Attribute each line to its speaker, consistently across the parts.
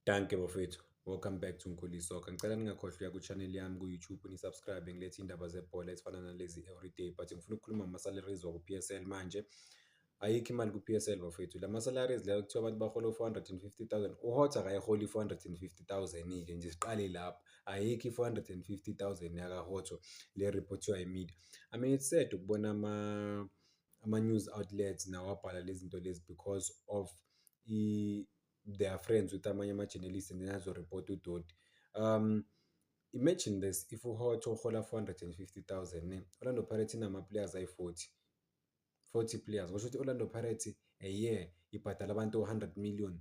Speaker 1: Danke bafethu. Welcome back to Nkuli Soccer. Ngicela ningakhohlwa uya ku-channel yami ku-YouTube ni-subscribe ngilethe iy'ndaba zebhola ezifana nalezi everyday but ngifuna ukukhuluma ngama-salaries waku-PSL manje. Ayikho imali ku-PSL bafethu. La ma-salaries lawa kuthiwa abantu bahola u-450,000. UHotza akayiholi i-450,000-ke nje siqale lapho. Ayikho i-450,000 yakaHotza le reportiwa yimedia. I mean it's sad ukubona ama ama-news outlets nawo abhala lezi zinto lezi because of they are friends with amanye ama-journalist and then azoripota udoti um imagine this if uhot uhola 450000 ne orlando pirates inama-players ayi-40 40 players kusho ukuthi orlando pirates a year ibhadala abantu 100 million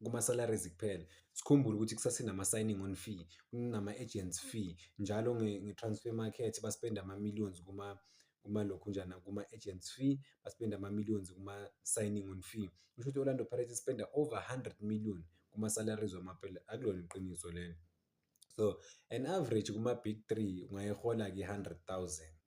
Speaker 1: kuma-salaries kuphela sikhumbule ukuthi kusase nama-signing on fee kunama-agents fee njalo nge-transfer market baspenda ama-millions kuma kumalokhunjana kuma-agents fee baspenda ama-millions kuma-signing on fee kusho ukuthi i-orlando pirates ispenda over 100 million kuma-salaries wamapela akulona iqiniso lelo so an average kuma-big three ungayihola-ke i-hundred thousand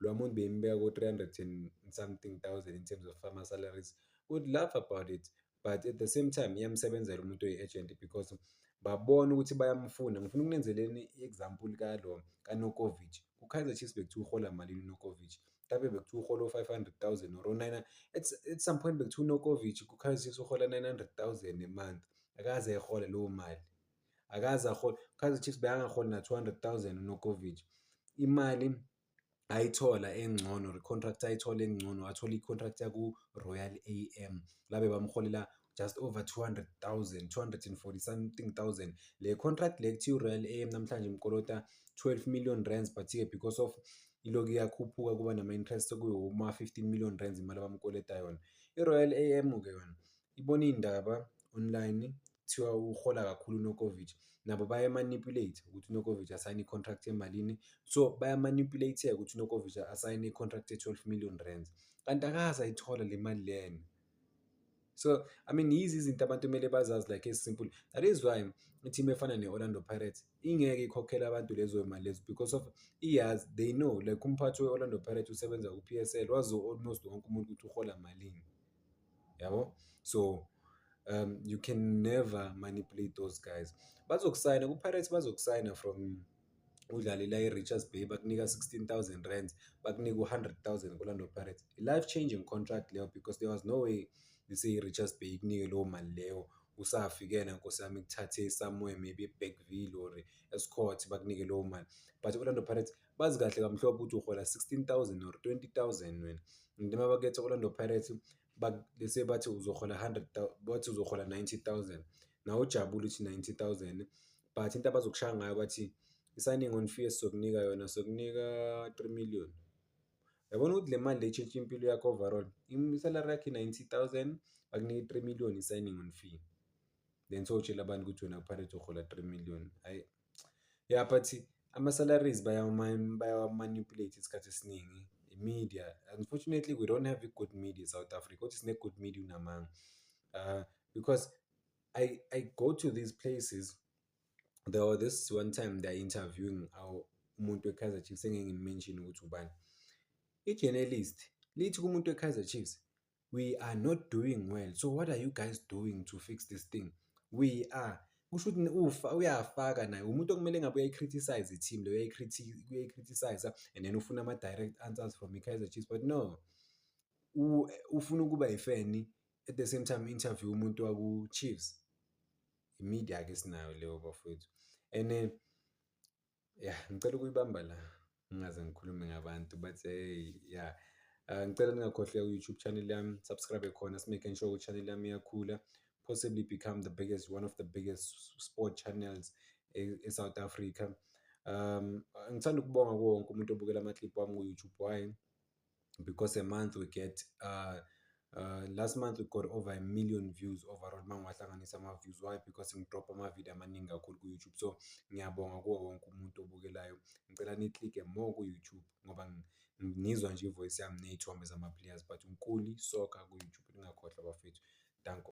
Speaker 1: lo amount beyimbeka ko-300 and something thousand in terms of ama-salaries would laugh about it but at the same time iyamsebenzela umuntu oyi-agent because babona ukuthi bayamfuna ngifuna ukunenzeleni i-example kalo kanokovic kukaizer chiefs bekuthiwa uhola malini unokovic mhlawumbe bekuthiwa uhola u-five hundred thousand or o-nine at, at some point bekuthiwa unokovic kukaizer chiefs uhola nine hundred thousand a month akaze ehole leyo mali akaze ahole Kaizer Chiefs bekangaholi na 200,000 uNokovic imali ayithola engcono recontract ayithola engcono athola icontract yaku Royal AM labe bamholela just over 200,000 240 something thousand le contract le kuthiwa Royal AM namhlanje imkolota 12 million rands but here because of iloku iyakhuphuka kuba nama-interest sekuwuma 15 million rands imali abamkoleta yona i-royal am-ke yona ibona iy'ndaba online kuthiwa uhola kakhulu uNokovic nabo bayamanipulate ukuthi uNokovic asayine i-contract emalini so bayamanipulate-ke ukuthi uNokovic asayine i-contract ye-12 million rands kanti akaze ayithola le mali lena so i mean yizi izinto abantu kumele bazazi like esimple that is why i-team efana ne-orlando pirates ingeke ikhokhele abantu lezo mali lezo because of iyazi they know like umphathi we-orlando pirates usebenza ku-p s l wazi almost wonke umuntu ukuthi uhola malini yabo so um you can never manipulate those guys bazokusayina ku-pirates bazokusayina from udlalela i-richards bay bakunika 16000 rands bakunika u-100000 kolando pirates i-life changing contract leyo because there was no way lise i-richards bay ikunike leyo mali leyo usafikena nkosi yami kuthathe somewhere maybe ebackville or escort bakunike leyo mali but i-orlando pirates bazi kahle kamhlophe ukuthi uhola 16000 or 20000 wena and uma baketha Orlando Pirates bese bathi uzohola 100 bathi uzohola 90000 nawe ujabule uthi 90000 but into abazokushaya ngayo bathi i-signing on fee esizokunika yona sokunika 3 million yabona ukuthi le mali le tshintsha impilo yakho overall isalary yakho i-90000 bakunike i-3 million i-signing on fee then sowutshela abantu ukuthi wena upirates uhola 3 million hhayi ya but ama-salaries bayawamanipulate isikhathi esiningi i-media unfortunately we don't have i-good media e-south africa kodwa sine-good media unamanga uh, because I, I go to these places there was this one time they're interviewing our umuntu we-kaizer chiefs engeke ngimenshini ukuthi ubani i-journalist lithi kumuntu we-kaizer chiefs we are not doing well so what are you guys doing to fix this thing we are kusho ukuthi ufa uyafaka naye umuntu okumele ngabe uyayi-criticize i-team leyo uyayi-criticize and then ufuna ama-direct answers from i-kaizer chiefs but no ufuna ukuba yifeni at the same time interview umuntu waku-chiefs i-media-ke sinayo leyo bafowethu and then Yah, ngicela ukuyibamba la, ngingaze ngikhulume ngabantu but hey, yah. Ah, ngicela ningakhohlwa ku-YouTube channel yami, subscribe khona, si-making sure ukuthi channel yami iyakhula, possibly become the biggest, one of the biggest sport channels e- e-South Africa. Um, ngithanda ukubonga kuwo wonke umuntu obukela ama-clip wami ku-YouTube, why? because a month we get uh, uh, last month we got over a million views overall uma ngiwahlanganisa ama-views why because ngidropha ama-video amaningi kakhulu ku-youtube so ngiyabonga kuwo wonke umuntu obukelayo ngicela niklike more ku-youtube ngoba ngizwa nje ivoice yami ney'thombe zama-players but unkuli soka ku-youtube ningakhohlwa bafethu danko